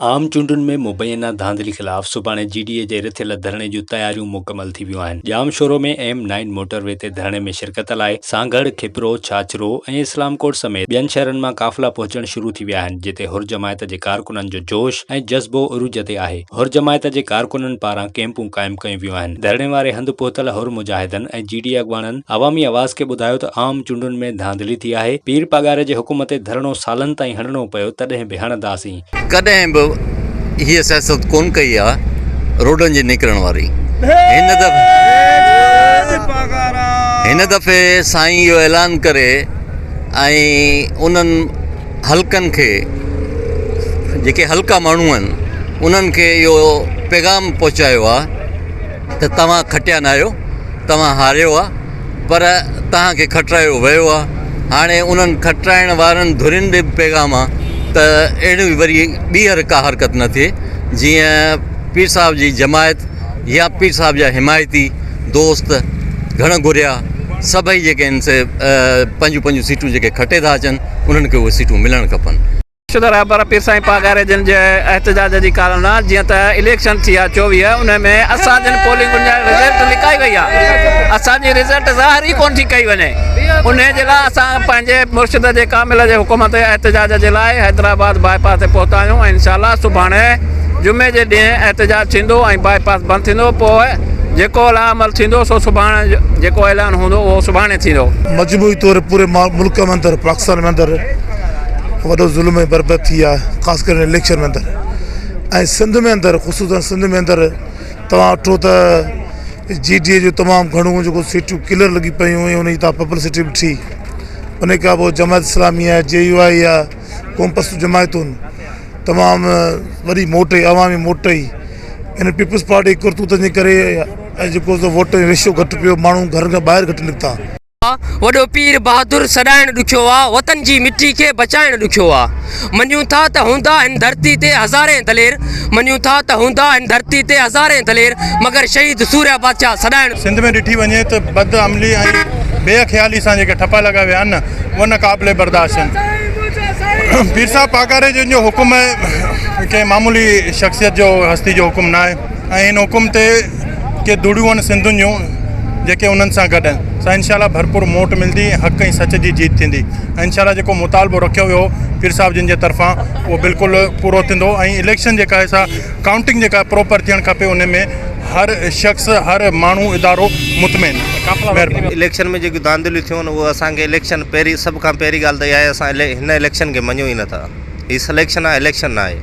عام چونڊن ۾ مبينا ڌانڌلي خلاف سڀاڻي جي ڊي اي جي رٿيل ڌرڻي جون تياريون مڪمل ٿي ويون آهن، Jamshoro ۾ M nine motorway تي ڌرڻي ۾ شرڪت لاء سانگهڙ، کپرو، ڇاڇرو ۽ اسلام ڪوٽ سميت ٻين شهرن مان قافلا پهچڻ شروع ٿي ويا آهن جتي حر جماعت جي ڪارڪنن جو جوش ۽ جذبو عروج تي آهي، حر جماعت جي ڪارڪنن پاران ڪيمپون قائم ڪيون ويون آهن، ڌرڻي واري هنڌ پهتل حر مجاهدن ۽ جي ڊي اي اڳواڻن عوامي آواز کي ٻڌايو ته عام چونڊن ۾ ڌانڌلي ٿي آهي، پير پاڳاري جي حڪم تي ڌرڻو سالن تائين هڻڻو پيو تڏهن به هڻنداسين. ڪڏهن به هيء سياست ڪونه ڪئي آ روڊن جي نڪرڻ واري هن دفعي سائين اهو اعلان ڪري ۽ انهن حلقن کي جيڪي حلقا ماڻهو آهن انهن کي اهو پيغام پهچايو آ ته توهان کٽيا ناهيو، توهان هاريو آ، پر توهان کي کٽرايو ويو آ. هاڻي انهن کٽرائڻ وارن ڌرين ڏي به پيغام آ ته اهڙي وري ٻيهر ڪا حرڪت نه ٿئي، جيئن پير صاحب جي جماعت يا پير صاحب جا حمايتي، دوست، گهڻ گهريا سڀئي جيڪي آهن سي پنهنجون پنهنجون سيٽون جيڪي کٽي ٿا اچن، انهن کي اهي سيٽون ملڻ کپن. شده رهبر پير سائين پاڳاري جن جي احتجاج جي ڪارڻ نه جيئن ته اليڪشن ٿيا چوويهه انهي ۾ اسان جن پولنگن جا رزلٽ لڪائي وئي آ اسان جي رزلٽ ظاهر ئي ڪون ٿي ڪئي وڃي انهي جي لاء اسان پنهنجي مرشد جي ڪامل جي حڪم تي احتجاج جي لاء حيدرآباد باء پاس تي پهتا آهيون ۽ انشاء الله سڀاڻي جمعي جي ڏينهن احتجاج ٿيندو ۽ باء پاس بند ٿيندو پوء جيڪو لاعمل ٿيندو سو سڀاڻي جيڪو اعلان هوندو اهو سڀاڻي ٿيندو. مجموعي طور پوري ملڪ ۾ اندر پاڪستان ۾ اندر. وڏو ظلم ۽ بربد ٿي آ خاص ڪري اليڪشن اندر ۽ سنڌ ۾ اندر خصوصا سنڌ ۾ اندر تواں اٺو ته جي ڊي اي جو تمام گهڻو جيڪو سيٽون ڪلر لڳي پيون ۽ انهي تان پبلسٽي به ٺي ان کان پوء جماعت اسلامي آ جي يو آئي آ قوم پرست جماعتون تمام وڏي موٽ اي عوامي موٽ اي ان پيپلز پارٽي ڪرتوتن جي ڪري اڄ جيڪو سو ووٽ ريشو گهٽ پيو ماڻهو گهرن کان ٻاهر گهٽ نڪتا آ، وڏو پير بهادر سڏائڻ ڏکيو آ، وطن جي مٽي کي بچائڻ ڏکيو آ. مڃون ٿا ته هوندا هن ڌرتي تي هزارين دلير، مڃون ٿا ته هوندا هن ڌرتي تي هزارين دلير، مگر شهيد سوريا بادشاهه سڏائڻ. سنڌ ۾ ڏٺي وڃي ته بد عملي ۽ بي خيالي سان جيڪي ٺپا لڳا ويا آهن اهي نه قابل برداشت آهن. پير صاحب پاڳاري جن جو حڪم ڪنهن معمولي شخصيت جو هستي جو حڪم ناهي ۽ ان حڪم تي ڪي ڌڙيون آهن سنڌين جون جيڪي انهن سان گڏ آهن سا انشاء الله ڀرپور موٽ ملندي ۽ حق ۽ سچ جي جيت ٿيندي ۽ انشاء الله جيڪو مطالبو رکيو ويو پير صاحب جن جي طرفان اهو بلڪل پورو ٿيندو ۽ اليڪشن جيڪا آهي سا ڪائونٽنگ جيڪا پروپر ٿيڻ کپي ان ۾ هر شخص هر ماڻهو ادارو مطمئن مهرباني اليڪشن ۾ جيڪي ڌانڌليون ٿيون اهو اسان کي اليڪشن پهرين سڀ کان پهرين ڳالهه ته اها آهي اسان هن اليڪشن کي مڃون ئي نٿا هي سليڪشن آهي اليڪشن ناهي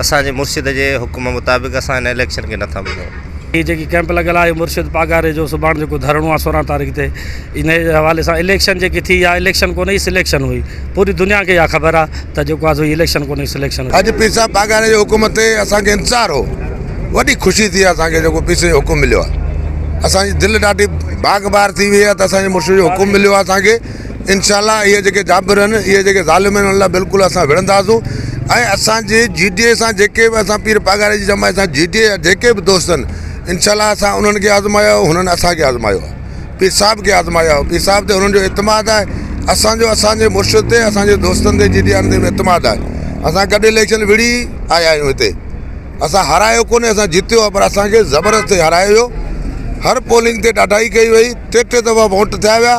اسان جي مرشد جي حڪم مطابق اسان ان اليڪشن کي نٿا مڃون. هي جيڪي ڪئمپ لڳل آهي اهو مرشد پاڳاري جو سڀاڻ جيڪو ڌرڻو آهي سورهن تاريخ تي ان جي حوالي سان اليڪشن جيڪي ٿي اها اليڪشن ڪونه هئي سليڪشن هئي پوري دنيا کي اها خبر آهي ته جيڪو آهي سو هي اليڪشن ڪونه هئي سليڪشن هئي. اڄ پير صاحب پاڳاري جي حڪم تي اسان کي انتظار هو وڏي خوشي ٿي آهي اسان کي جيڪو پير سائين جو حڪم مليو آهي اسان جي دل ڏاڍي باغ بهار ٿي وئي آهي ته اسان جي مرشد جو حڪم مليو آهي اسان کي. انشاء الله اهي جيڪي جابر آهن اهي جيڪي ظالم آهن انهن لاء بلڪل اسان وڙهنداسون ۽ اسان جي جي ڊي اي سان جيڪي به اسان پير پاڳاري جي جماعت سان جي ڊي اي جا جيڪي به دوست آهن انشاء الله اسان انهن کي آزمايو انهن اسان کي آزمايو آهي پير صاحب کي آزمايو آهي پير صاحب تي انهن جو اعتماد آهي اسانجو اسانجي مرشد تي اسانجي دوستن تي جي ڊي اي وارن تي به اعتماد آهي اسان ڪڏهن اليڪشن وڙهي آيا آهيون هتي اسان هارايو ڪونهي اسان جتيو آهي پر اسان کي زبردستي هارايو ويو هر پولنگ تي ڏاڍائي ڪئي وئي ٽي ٽي دفعا ووٽ ٿيا ويا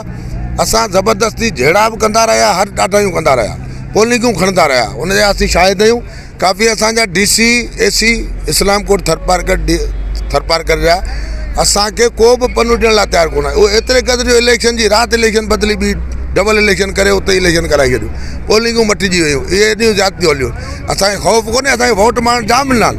اسان زبردستي جهيڙا به ڪندا رهيا هر ڏاڍايون ڪندا رهيا پولنگون کڻندا رهيا ان جا اسين شاهد آهيون ڪافي اسانجا D C A C Islamkot Tharparkar D Tharparkar جا اسانکي ڪو به پنو ڏيڻ لاء تيار ڪونه اهو ايتري قدر جو اليڪشن جي رات اليڪشن بدلي ٻي ڊبل اليڪشن ڪري اتي اليڪشن ڪرائي ڇڏيو پولنگون مٽجي ويون اهي ايڏيون زيادتيون هليون اسان کي خوف ڪونهي اسان کي ووٽ ماڻهن جام ڏنا آهن.